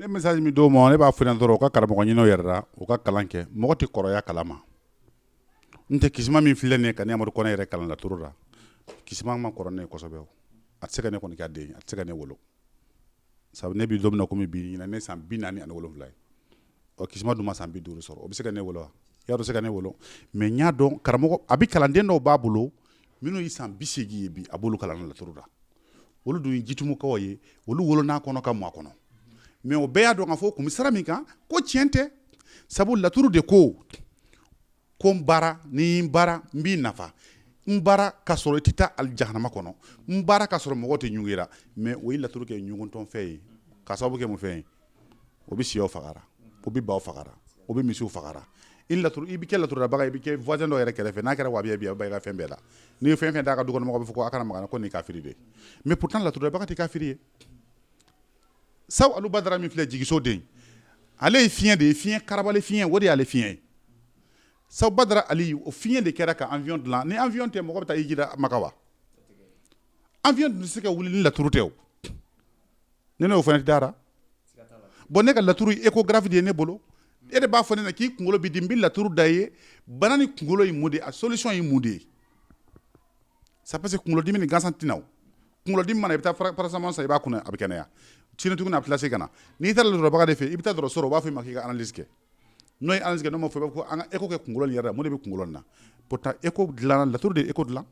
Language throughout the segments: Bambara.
ne message min d'o ma ne b'a f'o ɲɛna dɔrɔn u ka karamɔgɔ ɲin'o yɛrɛ la u ka kalan kɛ mɔgɔ tɛ kɔrɔya kalan ma n tɛ kisima min filɛ nin ye ka ne amadu kɔnɛ yɛrɛ kalan laturu la kisima ma kɔrɔ ne ye kosɛbɛ o a tɛ se ka ne kɔni k'a den ye a tɛ se ka ne wolo sabu ne bi don min na komi bi ɲinan ne san bi naani ani wolonwula ye ɔ kisima dun ma san bi duuru sɔrɔ o bɛ se ka ne wolo wa y'a dɔn se ka ne wolo mais n y'a dɔn karamɔgɔ a bɛ kalanden dɔw b'a bolo minnu ye san bi seegin ye bi a b'olu kalan laturu la olu dun ye jitumukaw ye olu wolon'a kɔnɔ ka mɔ a kɔnɔ mais o bɛɛ y'a dɔn k'a fɔ ko n bɛ sira min kan ko tiɲɛ tɛ sabu laturu de ko ko n baara ni n baara n b'i nafa n baara ka sɔrɔ i tɛ taa al jahanama kɔnɔ n baara ka sɔrɔ mɔgɔ tɛ ɲugun i la mais o ye laturu kɛ ɲuguntɔfɛn ye ka sababu kɛ mun fɛn ye o bɛ syɛw faga o bɛ baw faga o bɛ misiw faga i la i bɛ kɛ laturudala i bɛ kɛ voisin dɔ yɛrɛ kɛrɛfɛ n'a kɛra wahabiya ye a bɛ ban i ka fɛn bɛɛ la n'i ye fɛn fɛn d'a ka dukɔnɔmɔgɔ b'a fɔ ko a kana maga a la ko nin ye kafiri de ye mais pourtant laturudala tɛ kafiri ye sabu alu badara min filɛ jigiso de ale ye fiɲɛ de ye fiɲɛ kara fiɲɛyɛn o de y'ale fiɲɛ ye sabu badara ali o fiɲɛ de kɛra ka avion dilan ni avion tɛ mɔgɔ bɛ taa hiji la maka wa avion tun tɛ se ka wuli ni laturu tɛ ne n'o fana dara bon ne ka laturu échographie de ye ne bolo e de b'a fɔ ne na k'i kunkolo b'i dimi n bɛ laturu da ye bana ni kunkolo ye mun de a solution ye mun de ye c'est parce que kunkolodimi ni gansan tɛ na i na o kunkolodimi mana i bɛ taa paracétamol san i b'a kunu a bɛ kɛnɛya sini tuguni a bɛ tila ka na n'i taara dɔgɔtɔrɔba de fɛ i bɛ taa dɔgɔtɔrɔso u b'a fɔ i ma k'i ka analyse kɛ n'o ye analyse kɛ n'o ma fɔ i b'a fɔ ko écho kɛ kunkolo yɛrɛ mun de bɛ kunkolo na pourtant écho dilanna laturu de ye écho dilan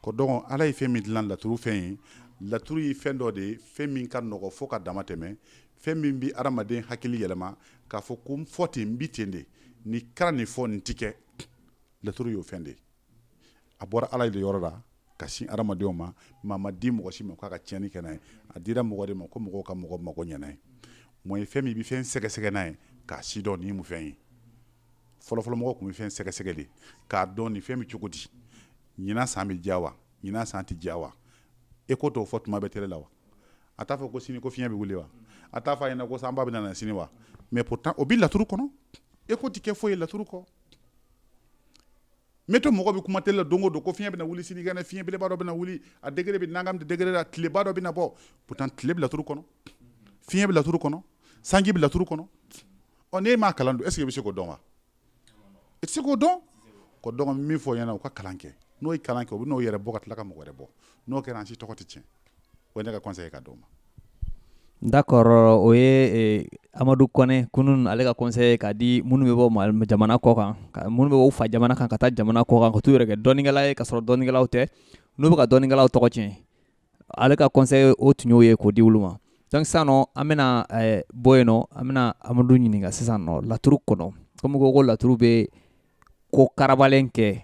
ko donc ala ye fɛn min dilan laturu fɛn ye laturu ye fɛn dɔ de ye fɛn min ka nɔgɔ fo ka dama tɛmɛ fɛn min bɛ adamaden hakili yɛlɛma k'a fɔ ko fɔ ten n bi ten de ni kɛra nin fɔ nin tɛ kɛ laturu y'o fɛn de ye a bɔra ala de yɔrɔ la ka sin adamadenw ma a ma di mɔgɔ si ma k'a ka tiɲɛni kɛ n'a ye a dira mɔgɔ de ma ko mɔgɔw ka mɔgɔ mago ɲɛ n'a ye mɔ ye fɛn min i bɛ fɛn sɛgɛsɛgɛ n'a ye k'a sidɔn nin ye mun fɛn ye fɔlɔfɔlɔmɔgɔ tun bɛ fɛn sɛgɛsɛgɛ de k'a dɔn nin fɛn bɛ cogo di ɲinan san bɛ diya wa ɲinan san tɛ diya wa écho t'o fɔ tuma bɛɛ télé la wa a t'a fɔ ko sini ko fiɲɛ bɛ wuli wa a t'a fɔ a ɲɛna ko sanba bɛ na sini wa mais pourtant o bɛ laturu kɔnɔ écho tɛ kɛ foyi ye laturu kɔ météo mɔgɔ bɛ kuma télé la don o don ko fiɲɛ bɛna wuli sinikɛnɛ fiɲɛ belebeleba dɔ bɛna wuli a degré bɛ nagam degré la tileba dɔ bɛna bɔ pourtant tile bɛ laturu kɔnɔ fiɲɛ bɛ laturu kɔnɔ sanji bɛ laturu kɔnɔ ɔ n'e m'a kalan dun est-ce que i bɛ se k'o dɔn wa i tɛ se k'o dɔn ko donc min f'o ɲɛna u ka kalan kɛ n'o ye kalan kɛ u bɛ n'o yɛrɛ bɔ ka tila ka mɔgɔ wɛrɛ bɔ n'o kɛra an si tɔgɔ tɛ tiɲɛ o ne ka conseil ka d'o ma d'accord o ye e, amadu kɔnɛ kunun ale ka conseil ka di minnu bɛ bɔ jamana kɔ kan minnu bɛ bɔ u fa jamana kan ka taa jamana kɔ kan ka t'u yɛrɛ kɛ dɔnnikɛla ye ka sɔrɔ dɔnnikɛlaw tɛ n'u bɛ ka dɔnnikɛlaw tɔgɔ tiɲɛ ale ka conseil o tun y'o ye k'o di olu ma donc sisan nɔ an bɛna e, bɔ yen nɔ an bɛna amadu ɲininka sisan nɔ laturu kɔnɔ kɔmi ko ko laturu bɛ ko karabalen kɛ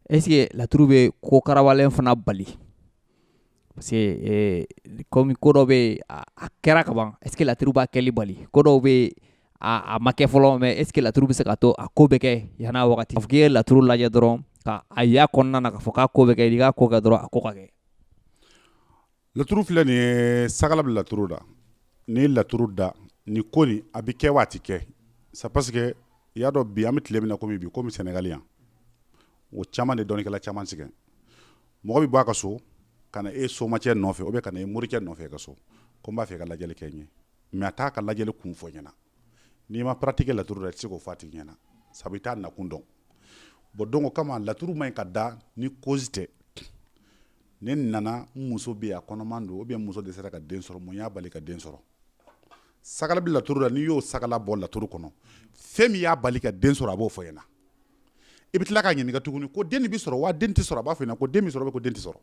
est ce que laturu bɛ ko karabalen fana bali parce que komi ko dɔ bɛ a kɛra ka ban est ce que laturu b'a kɛli bali ko dɔw bɛ a ma kɛ fɔlɔ mais est ce que laturu bɛ se ka to a ko bɛ kɛ yan'a wagati fo k'i ye laturu lajɛ dɔrɔn ka a y'a kɔnɔna na k'a fɔ k'a ko bɛ kɛ i k'a ko kɛ dɔrɔn a ko ka kɛ Laturu filɛ nin ye sagala bɛ laturu la n'i ye laturu da nin ko nin a bɛ kɛ wa a tɛ kɛ c'est parce que i y'a dɔn bi an bɛ tile min na kɔmi bi kɔmi sɛnɛgali yan o caman de dɔnnikɛla caman sɛgɛn mɔgɔ bɛ bɔ a ka so ka na e somacɛ nɔfɛ ou bien ka na e morikɛ nɔfɛ i ka so ko n b'a fɛ ka lajɛli kɛ n ye mais a t'a ka lajɛli kun fɔ ɲɛna n'i ma pratique kɛ laturu la i tɛ se k'o fɔ a tigi ɲɛna sabu i t'a nakun dɔn bon donc o kama laturu man ɲi ka da ni cause tɛ ne nana n muso bɛ a kɔnɔman don ou bien muso dɛsɛra ka den sɔrɔ mun y'a bali ka den sɔrɔ sagala bɛ laturu la n'i y'o sagala bɔ laturu kɔnɔ fɛn min y'a bali ka den sɔrɔ a b'o fɔ ɲɛna i bɛ tila k'a ɲininka tuguni ko den bɛ sɔrɔ wa den tɛ sɔrɔ a b'a fɔ ɲɛna ko den bɛ sɔrɔ ko den tɛ sɔrɔ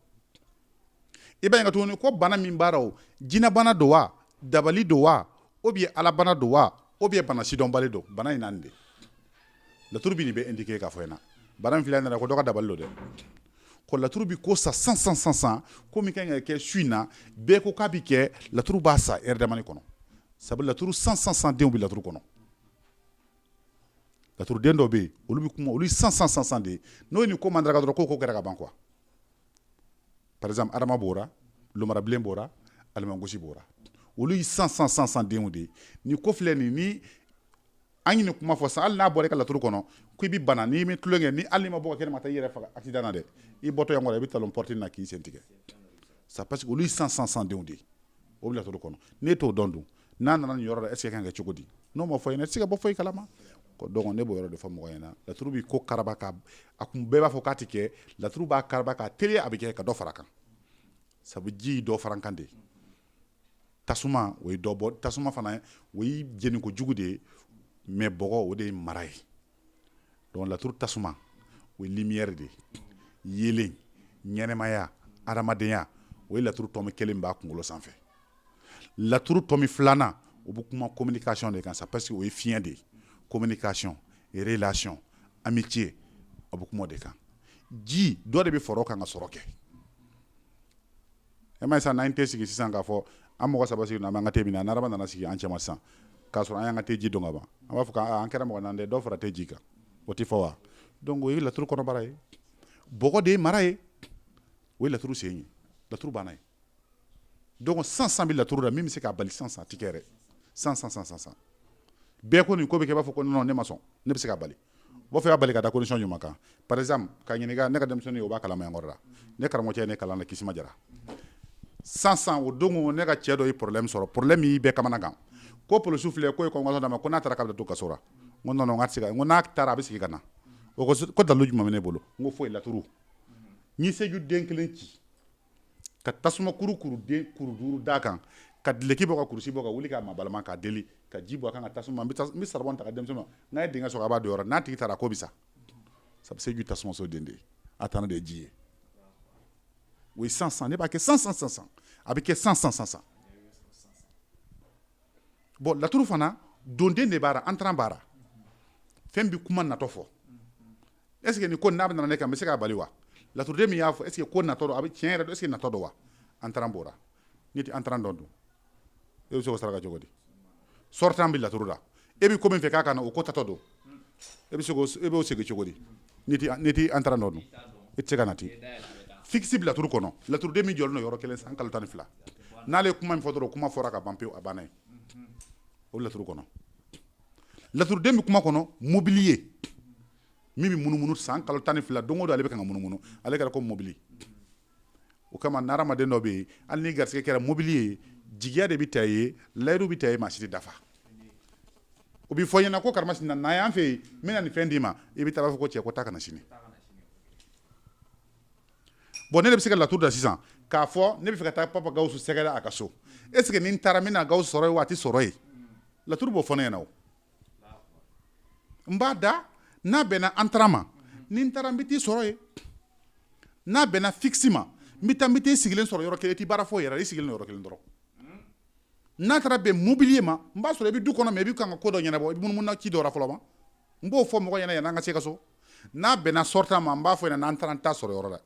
i b'a ɲininka tuguni ko bana min b'a la o jinɛbana don wa dabali don wa ou bien alabana don wa ou bien bana sidɔnbali don bana in na de laturu bi nin bɛɛ indiquer k'a fɔ ɲɛna bana min filɛ nin na ko dɔ ka dabali don dɛ ko laturu bi ko sa san san san san ko min kan ka kɛ su in na bɛɛ ko k'a bi kɛ laturu b'a sa heure damani kɔnɔ sabu laturu san san san denw bi laturu kɔnɔ laturuden dɔw bɛ yen olu bɛ kuma olu ye san san san san de ye n'o ye nin ko mandaraka dɔrɔn k'o ko kɛra ka ban quoi par exemple adama b'ora lomarabilen b'ora alimangosi b'ora olu ye san san san san denw de ye nin ko filɛ nin ni an ye nin kuma fɔ sa hali n'a bɔra i ka laturu kɔnɔ ko i bɛ bana n'i bɛ tulonkɛ ni hali n'i ma bɔ kɛnɛ ma taa i yɛrɛ faga accident na dɛ i bɔtɔ yan kɔrɔ i bɛ talon porte na k'i sen tigɛ c'est parce que olu ye san san san denw de ye o bɛ laturu kɔnɔ n'e t'o dɔn dun n'a nana nin yɔrɔ la est ce que kan kɛ cogo di n'o ma fɔ ɲɛna e tɛ se ka bɔ foyi kalama donc ne b'o yɔrɔ de fɔ mɔgɔ ɲɛna laturu bi ko karaba ka a kun bɛɛ b'a fɔ k'a tɛ kɛ laturu b'a karaba k'a teliya a bɛ kɛ ka dɔ fara kan sabu ji dɔ fara kan de tasuma o ye dɔbɔ tasuma fana o ye jeniko jugu de ye mais bɔgɔ o de ye mara ye donc laturu tasuma o ye lumière de ye yelen ɲɛnɛmaya adamadenya o ye laturu tɔmi kelen b'a kunkolo sanfɛ laturu tɔmi filanan o bɛ kuma communication de kan c'est parce que o ye fiɲɛ de ye communication relation amitié a bɛ kuma o de kan ji dɔ de bɛ fara kan ka sɔrɔ kɛ E m'a ye sisan n'an tɛ sigi sisan k'a fɔ an mɔgɔ saba sigilen bɛ an ka te min na n'Araba nana sigi an cɛma sisan k'a sɔrɔ an y'an ka te ji don ka ban an b'a fɔ k'an kɛra mɔgɔ naani dɛ dɔ fara te ji kan o tɛ fɔ wa donc o ye laturu kɔnɔbara ye bɔgɔ de ye mara ye o ye laturu sen ye laturu banna ye donc san san bɛ laturu la min bɛ se k'a bali san san a tɛ kɛ dɛ san san bɛɛ ko nin ko bɛ kɛ i b'a fɔ ko non ne ma sɔn ne bɛ se k'a bali b'a fɛ k'a bali ka da condition jumɛn kan par exemple k'a ɲininka ne ka denmisɛnnin o b'a kalama yan kɔrɔ la ne karamɔgɔcɛ ye ne kalan na Kisima Jara san san o don ne ka cɛ dɔ ye problème sɔrɔ problème ye bɛɛ kamanagan ko polisiw filɛ k'u ye convocation d'a ma ko n'a taara k'a bɛ to kaso la n ko non non n se ka n ko n'a taara a bɛ segin ka na o ko dalu jumɛn bɛ ne bolo n ko foyi laturu n ye seju den kelen ci ka tasuma kuru kuru den kuru duuru d'a kan ka dulɔki bɔ ka kurusi bɔ ka wuli k'a mabalima k'a deli ka ji bɔn a kan ka tasuma n bɛ saribɔn ta k'a di denmisɛnnin ma n'a ye dingɛ sɔrɔ a b'a don yɔrɔ n'a tigi taara ko bɛ sa sabu seju tasumaso den de ye a tana de ye ji ye o ye san san ne b'a kɛ san san san san a bɛ kɛ san san san san bon laturu fana donden de b'a la entrant b'a la fɛn bɛ kuma natɔ fɔ est ce que nin ko n'a bɛ nana ne kan n bɛ se k'a bali wa laturuden min y'a fɔ est ce que ko natɔ don a bɛ tiɲɛ yɛrɛ don est ce que natɔ don wa entrant b'o la n'i tɛ entrant dɔn dun e bɛ se k'o saraka cogo di sortant bɛ laturu la e bɛ ko min fɛ k'a ka na o ko taatɔ don e bɛ se e b'o segin cogo di n'i tɛ entrant dɔn dun e tɛ se ka na ten fixe bɛ laturu kɔnɔ laturuden min jɔlen don yɔrɔ kelen san kalo tan ni fila n'ale ye kuma min fɔ dɔrɔn kuma fɔra ka ban pewu a banna ye o laturu kɔnɔ laturuden bɛ kuma kɔnɔ mobili ye min bɛ munumunu san kalo tan ni fila don o don ale bɛ ka munumunu ale kɛra komi mobili o kama n'adamaden dɔ bɛ yen hali ni garisɛgɛ kɛra mobili ye jigiya de b'a ta ye layidu b'a ta ye mais si tɛ dafa o bɛ fɔ ɲɛna ko karamasina na yan fɛ yen n bɛna nin fɛn d'i ma i bɛ taa a b'a fɔ ko cɛ ko taa ka na sini bon ne de bɛ se ka laturu da sisan k'a fɔ ne b'a fɛ ka taa Papa Gawusu sɛgɛrɛ a ka so est ce que ni n taara n bɛna Gawusu sɔrɔ yen wa a tɛ sɔrɔ yen laturu b'o fɔ ne ɲɛna n b'a da n'a bɛnna entrant ma ni n taara n bɛ t'i sɔrɔ yen n'a bɛnna fixe ma n bɛ t'i sigilen sɔrɔ yɔrɔ kelen i tɛ baara foyi yɛrɛ i sigilen don yɔrɔ kelen dɔrɔn n'a taara bɛn mobili ma n b'a sɔrɔ i bɛ du kɔnɔ mais i bɛ ka ko dɔ ɲɛnabɔ i bɛ munumunu ci dɔ la fɔlɔ ma n b'o fɔ mɔgɔ ɲɛna yanni an ka se ka so n'a bɛnna sortant ma n b'a fɔ n'an taara n t'a sɔrɔ yɔrɔ la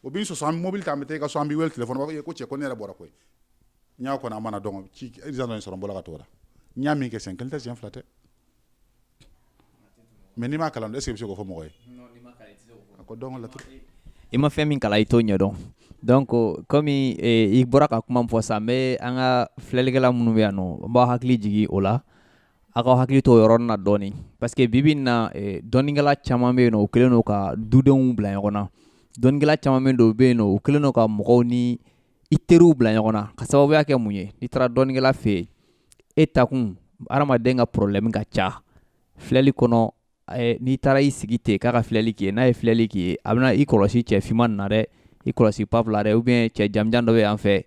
o b'i sɔsɔ an bɛ mobili ta an bɛ taa i ka so an b'i weele téléphone b'a fɔ ko cɛ ko ne yɛrɛ bɔra koyi n y'a kɔnɔ a mana dɔn ci examen in sɔrɔ n bɔra ka t'o la n y'a min kɛ siɲɛ kelen tɛ siɲɛ fila tɛ mais n'i m'a kalan est ce que i bɛ se k'o fɔ mɔgɔ ye a ko dɔn laturu i ma fɛn min kalan i t'o ɲɛdɔn donc komi eh, i bɔra ka kuma min fɔ sisan n bɛ an ka filɛlikɛla minnu bɛ yan nɔ n b'aw hakili jigin o la aw k'aw hakili to o yɔrɔnin na dɔɔnin parce que bi bi in na eh, dɔnnikɛla caman bɛ yen nɔ u kɛlen don ka dudenw bila ɲɔgɔn na dɔnnikɛla caman bɛ yen nɔ u bɛ yen nɔ u kɛlen don ka mɔgɔw ni i teriw bila ɲɔgɔn na ka sababuya kɛ mun ye n'i taara dɔnnikɛla fɛ yen e takun adamaden ka problème ka ca filɛli kɔnɔ eh, n'i taara i sigi ten k'a ka filɛli k'i ye n'a ye filɛli k'i ye a bɛna i kɔlɔsi cɛ finman nin na dɛ i kɔlɔsi pap la dɛ ou bien cɛ jamanjan dɔ bɛ yan fɛ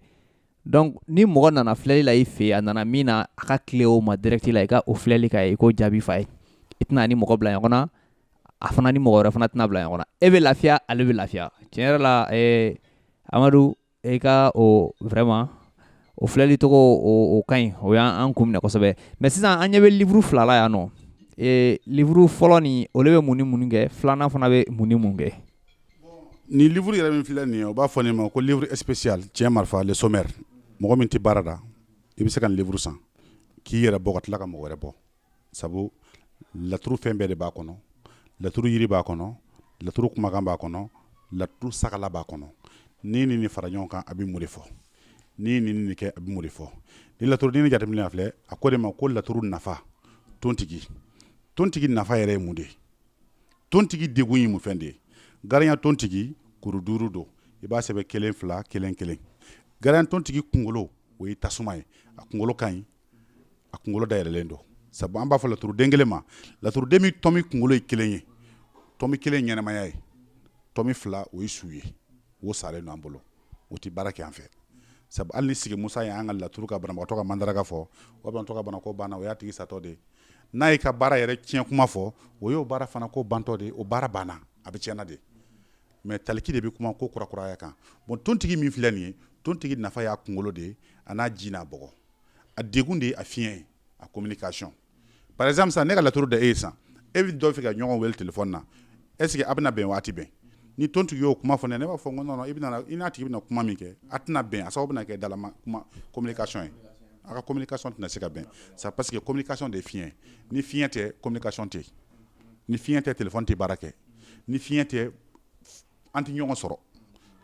donc ni mɔgɔ nana filɛli la i fɛ yen a nana min na a ka tilen o ma direct la i ka o filɛli k'a ye i k'o jaabi f'a ye i tɛna ni mɔgɔ bila ɲɔgɔn na a fana ni mɔgɔ wɛrɛ fana tɛna bila ɲɔgɔn na e bɛ lafiya ale bɛ lafiya tiɲɛ yɛrɛ la eh, amadu i ka o vraiment o filɛli cogo o ka ɲi o y'an kun minɛ kosɛbɛ mais sisan an ɲɛ bɛ livre fila la yan nɔ livre fɔlɔ nin olu bɛ mun ni mun kɛ filanan fana bɛ mun ni mun kɛ nin livre yɛrɛ min filɛ nin u b'a fɔ nin ma ko livre spécial cɛ marifa le sommaire mɔgɔ min tɛ baara da i bɛ se ka nin livre san k'i yɛrɛ bɔ ka tila ka mɔgɔ wɛrɛ bɔ sabu laturu fɛn bɛɛ de b'a kɔnɔ laturu yiri b'a kɔnɔ laturu kumakan b'a kɔnɔ laturu saraka b'a kɔnɔ nin ni nin fara ɲɔgɔn kan a bɛ mun de fɔ nin ni nin kɛ a bɛ mun de fɔ ni laturu ni jateminɛ filɛ a ko de ma ko laturu nafa tontigi tontigi nafa yɛrɛ ye mun de ye tontigi degun ye mun fɛn de ye garinya tontigi kuru duuru don i b'a sɛbɛn kelen fila kelen kelen garinya tontigi kunkolo o ye tasuma ye a kunkolo ka ɲi a kunkolo dayɛlɛlen don sabu an b'a fɔ laturu den kelen ma laturu den min tɔmi kunkolo ye kelen ye tɔmi kelen ɲɛnamaya ye tɔmi fila o ye su ye o salen don an bolo o tɛ baara kɛ an fɛ sabu hali ni sigi musa ye an ka laturu ka banabagatɔ ka mandaraka fɔ o banabagatɔ ka banako banna o y'a tigi satɔ de n'a y'i ka baara yɛrɛ tiɲɛ kuma fɔ o y'o baara fana ko bantɔ de o baara banna a bɛ tiɲɛna de mais taliki de bɛ kuma ko kurakuraya ka bon tontigi min filɛ nin ye tontigi nafa y'a kunkolo de ye a n'a ji n'a bɔ a degun de ye a fiɲɛ ye a communication par exemple sisan ne ka laturu da e ye sisan e bɛ dɔ fɛ ka ɲɔgɔn wele téléphone na est ce que a bɛna bɛn wa a tɛ bɛn ni tontigi y'o kuma fɔ ne ye ne b'a fɔ n ko non non i bɛna i n'a tigi bɛna kuma min kɛ a tɛna bɛn a sababu bɛna kɛ dalama kuma communication ye a ka communication tɛna se ka bɛn c'est parce que communication de ye fiɲɛ ye ni fiɲɛ tɛ communication tɛ yen ni fiɲɛ tɛ téléphone tɛ baara kɛ ni fiɲɛ tɛ an tɛ ɲɔgɔn sɔrɔ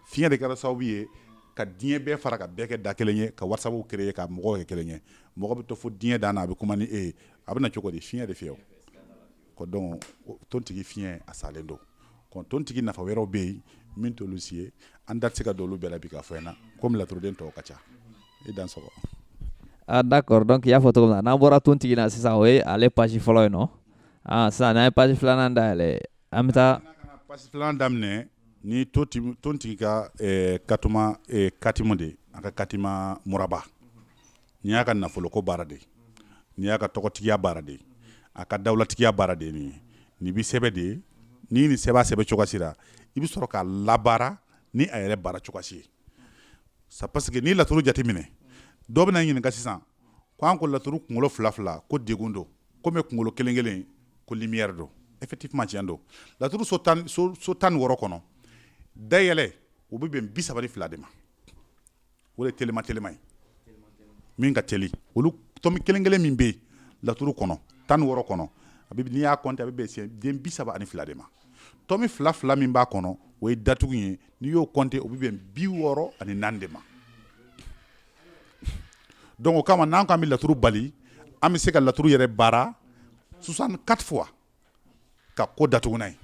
fiɲɛ de kɛra sababu ye ka diɲɛ bɛɛ fara ka bɛɛ kɛ da kelen ye ka whatsapp créer ka mɔgɔw kɛ kelen ye mɔgɔ bɛ to fo diɲɛ dan na a bɛ kuma ni e ye a bɛ na cogo di fiɲɛ de fɛ o ko donc tontigi fiɲɛ a salen don ko tontigi nafa wɛrɛw bɛ yen min t'olu si ye an da tɛ se ka don olu bɛɛ la bi k'a fɔ yan na comme laturuden tɔw ka ca i dan sɔrɔ ah, d'accord donc i y'a fɔ cogo min na n'an bɔra tontigi na sisan o ye ale page fɔlɔ ye nɔ ah, sisan n'an ye page filanan dayɛlɛ An bɛ taa page filanan daminɛ ni to tontigi ka katima katima de a ka katima muraba nin y'a ka nafoloko baara de nin y'a ka tɔgɔtigiya baara de a ka dawulatigiya baara de nin nin bɛ sɛbɛ de ye ni ni sɛbɛn sɛbɛn cogosi la i bɛ sɔrɔ k'a labaara ni a yɛrɛ baara cogosi ye c'est parce que ni laturu jateminɛ dɔ bɛna ɲininka sisan K' an ko laturu kunkolo fila fila ko dɛgun don kɔmi kunkolo kelen kelen ko lumière don effectivement cɛn don laturu so tan ni wɔɔrɔ kɔnɔ dayɛlɛ o bɛ bɛn bi saba fila de ma o ye teliman teliman ye min ka teli olu tɔnmi kelen kelen min bɛ yen laturu kɔnɔ tan ni wɔɔrɔ kɔnɔ a n'i y'a compter a bɛ bɛn den bi saba ani fila de ma tɔnmi fila fila min b'a kɔnɔ o ye datugu ye n'i y'o compter o bɛ bɛn bi wɔɔrɔ ani naani de ma donc o kama n'an ko an bɛ laturu bali an bɛ se ka laturu yɛrɛ baara 64 fois ka ko datugu n'a ye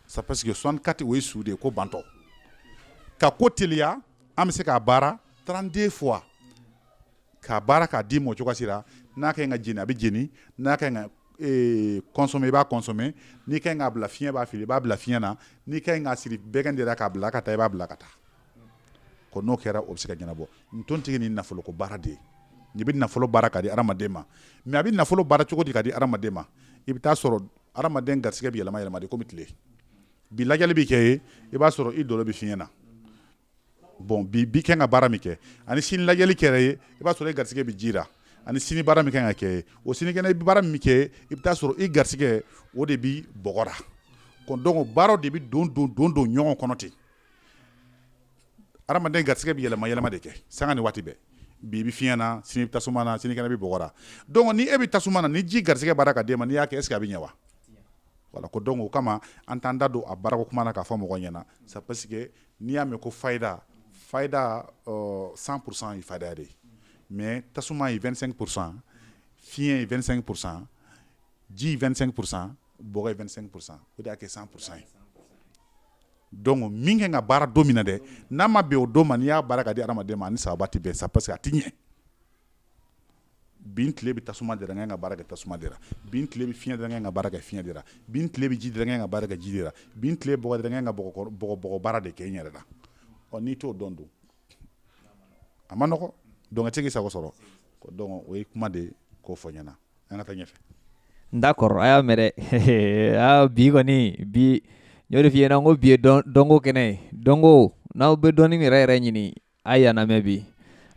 c'est parce que 64 o ye su de ye ko bantɔ ka ko teliya an bɛ se k'a baara 32 fois k'a baara k'a di mɔ cogoya si la n'a ka ɲi ka jeni a bɛ jeni n'a ka ɲi ka ee, consommer i b'a consommer n'i ka ɲi k'a bila fiɲɛ b'a fili i b'a bila fiɲɛ na n'i ka ɲi k'a siri bɛgɛn de ra k'a bila ka taa i b'a bila ka taa n'o kɛra o bɛ se ka ɲɛnabɔ tontigi ni nafoloko baara de ye n'i bɛ nafolo baara ka di hadamaden ma mais a bɛ nafolo baara cogo di ka di hadamaden ma i bɛ taa sɔrɔ hadamaden garisɛgɛ bɛ yɛlɛma yɛlɛma kɔmi tile bi lajɛli bɛ kɛ ye i b'a sɔrɔ i dolo bɛ fiɲɛ na bon bi bi kan ka baara min kɛ ani sini lajɛli kɛra ye i b'a sɔrɔ i garisɛgɛ bɛ ji la ani sini baara min kan ka kɛ o sinikɛnɛ i bɛ baara min kɛ i bɛ taa sɔrɔ i garisɛgɛ o de bɛ bɔgɔ ra donc baara de bɛ don don don don ɲɔgɔn kɔnɔ ten Adamaden garigɛ bɛ yɛlɛma yɛlɛma de kɛ san ni waati bɛɛ bi bɛ fiɲɛy na sini bɛ tasuma na sinikɛnɛ bɛ bɔra dɔn ni e bɛ tasuma na ni ji garigɛ bara ka' e ma n' y'a kɛ e se a bɛ ɲɛ wa wala ko dɔn o kama an t'an da don a bara kuma na k'a fɔ mɔgɔ ɲɛna sa parce que n'i y'a mɛn ko fada fada san kurusan ye faririn de ye mɛ tasuma ye fɛnsɛn kurusan fiɲɛyɛn fɛnsɛn kurusan ji fɛnsɛn kurusan b2sɛn kurusan o de y'a kɛ san kurusan ye Donc min kan ka baara don min na dɛ n'a ma bɛn o don ma n' y'a baara ka di hadamaden ma ni sababu tɛ bɛn c'est parce que a tɛ ɲɛ bi n tile bɛ tasuma de ra n kan ka baara kɛ tasuma de ra bi n tile bɛ fiɲɛ de ra n kan ka baara kɛ fiɲɛ de ra bi n tile bɛ ji de ra n kan ka baara kɛ ji de ra bi n tile bɔgɔ de ra n kan ka bɔgɔ baara de kɛ n yɛrɛ la n'i t'o dɔn dun a ma nɔgɔ donc e tɛ i sago sɔrɔ o ye kuma de ye k'o fɔ ɲɛna an ka taa ɲɛfɛ d'accord a y'a mɛn dɛ bi kɔni bi n y'o de f'i ɲɛna ko bi ye dɔnko kɛnɛ ye dɔnko n'aw bɛ dɔnni yɛrɛ yɛrɛ ɲini a y'an lamɛn bi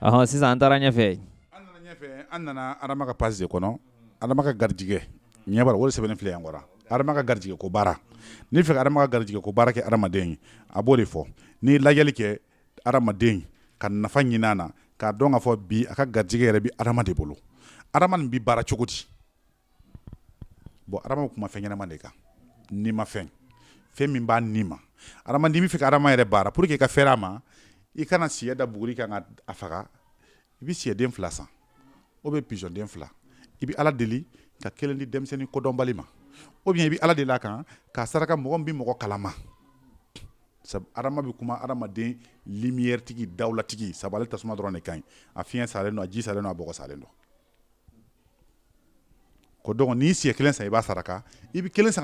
ɔhɔn sisan an taara ɲɛfɛ an nana ɲɛfɛ an nana adama ka page de kɔnɔ adama ka garijɛgɛ ɲɛ b'a la o de sɛbɛnnen filɛ yan kɔrɔ adama ka garijɛgɛ ko baara n'i fɛ ka adama ka garijɛgɛ ko baara kɛ adamaden ye a b'o de fɔ n'i ye lajɛli kɛ adamaden ka nafa ɲinin a na k'a dɔn k'a fɔ bi a ka garijɛgɛ yɛrɛ bɛ adama de bolo adama nin bɛ baara cogo di bɔn adama bɛ kuma fɛn ɲɛnama de kan nimafɛn fɛn min b'a ni ma adama n'i bɛ fɛ ka adama yɛrɛ baara pour que i ka fɛrɛ a ma i kana siyɛ da buguri kan ka a faga i bɛ sɛden fila san ou bien pigeon den fila i bɛ ala deli ka kelen di denmisɛnnin kodɔnbali ma ou bien i bɛ ala deli a kan k'a saraka mɔgɔ min bɛ mɔgɔ kalama sabu adama bɛ kuma hadamaden lumière tigi dawulatigi sabu ale tasuma dɔrɔn de ka ɲi a fiɲɛ salen don a ji salen don a bɔgɔ salen don ko donc n'i siyɛ kelen san i b'a saraka i bɛ kelen san